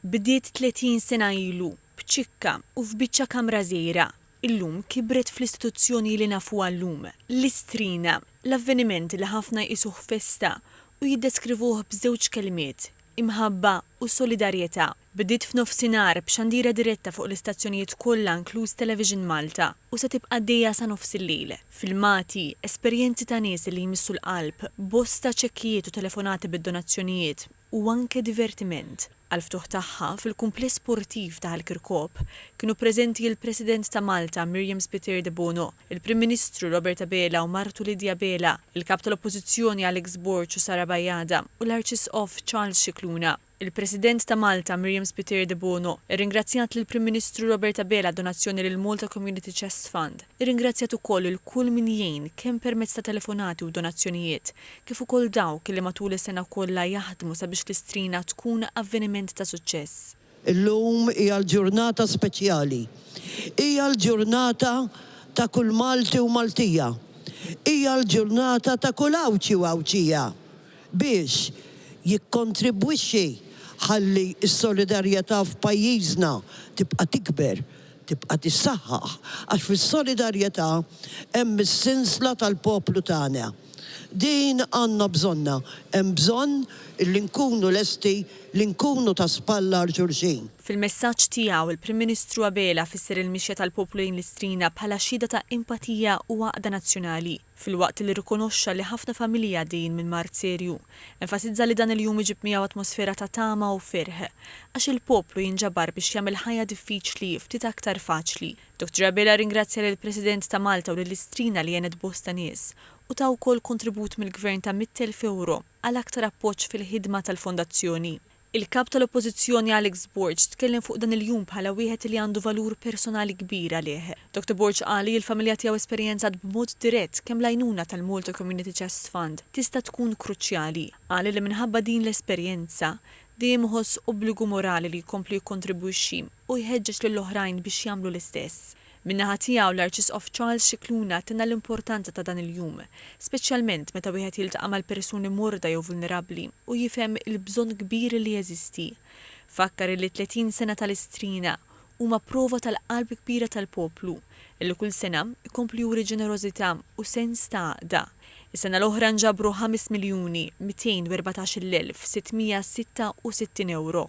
Bdiet 30 sena ilu, b'ċikka u f'biċċa kamra żgħira. Illum kibret fl-istituzzjoni li nafuha llum, l-Istrina, l-avveniment li ħafna jqisuh festa u jiddeskrivuh b'żewġ kelmiet, imħabba u solidarjetà. Bdiet f'nofsinhar b'xandira diretta fuq l-istazzjonijiet kollha inkluż Television Malta u se tibqa' għaddejja sa nofs il-lejl. Filmati, esperjenzi ta' nies li jmissu l-qalb, bosta ċekkijiet u telefonati bid-donazzjonijiet. u anke divertiment, għall-ftuħ tagħha fil-Kumpless Sportiv ta' Ħal Kirkop kienu preżenti l-President ta' Malta Miriam Spiteri Debono, il-Prim Ministru Robert Abela u martu Lydia Abela, il-Kap tal-Oppożizzjoni Alex Borg u Sara Bajada u l-Arċisqof Charles Scicluna. Il-President ta' Malta Miriam Spiteri Debono rringrazzjat lill-Prim Ministru Robert Abela għad-donazzjoni lill-Malta Community Chest Fund. Irringrazzjat ukoll lil kull min jgħin kemm permezz ta' telefonati u donazzjonijiet kif ukoll dawk li matul is-sena kollha jaħdmu sabiex l-Istrina tkun avveniment ta' suċċess. Illum hija l-ġurnata speċjali. Hija l-ġurnata ta' kull Malti u Maltija. Hija l-ġurnata ta' kull Għawdxi u Għawdxija biex jikkontribwixxi ħalli s-solidarjetà f'pajjiżna tibqa' tikber, tibqa' tissaħħaħ, għax fis-solidarjetà hemm is-sinsla tal-poplu tagħna. Din għandna bżonnha, hemm bżonn li nkunu lesti li nkunu ta' spalla għal xulxin. Fil-messaġġ tiegħu, il-Prim Ministru Abela fisser il-mixja tal-poplu lejn l-Istrina bħala xhieda ta' empatija u għaqda nazzjonali. Filwaqt li rrikonoxxa li ħafna familji għaddejjin minn mard serju, enfasizza li dan il-jum iġib miegħu atmosfera ta' tama u ferħ, għax il-poplu jinġabar biex jagħmel il-ħajja diffiċli ftit aktar faċli. Dottor Abela rringrazzja lill-President ta' Malta u lil Istrina li għenet bosta nies, u ta wkoll kontribut mill-Gvern ta' mitt elf ewro għal aktar appoġġ fil-ħidma tal-Fondazzjoni. Il-Kap tal-Oppożizzjoni Alex Borg tkellem fuq dan il-jum bħala wieħed li għandu valur personali kbir għalih. Doctor Borg qal li l-familja tiegħu esperjenzat b'mod dirett kemm l-għajnuna tal-Malta Community Chest Fund tista' tkun kruċjali. Qal li minħabba din l-esperjenza, dejjem iħoss obbligu morali li jkompli jikkontribwixxi. u jħeġġeġ lil oħrajn biex jagħmlu l-istess. Min-naħa tiegħu l-Arċisqof Charles Scicluna tenna l-importanza ta' dan il-jum, speċjalment meta wieħed jiltaqa' mal-persuni morda jew vulnerabbli u jifhem il-bżonn kbir li jeżisti. Fakkar illi t-tletin sena tal-Istrina huma prova tal-qalb kbira tal-poplu, li kull sena jkomplu juri ġenerożità u sens ta' għaqda. Is-sena l-oħra nġabru ħames miljuni, mitejn u erbatax-il elf, sitt mija u sitta u sittin ewro.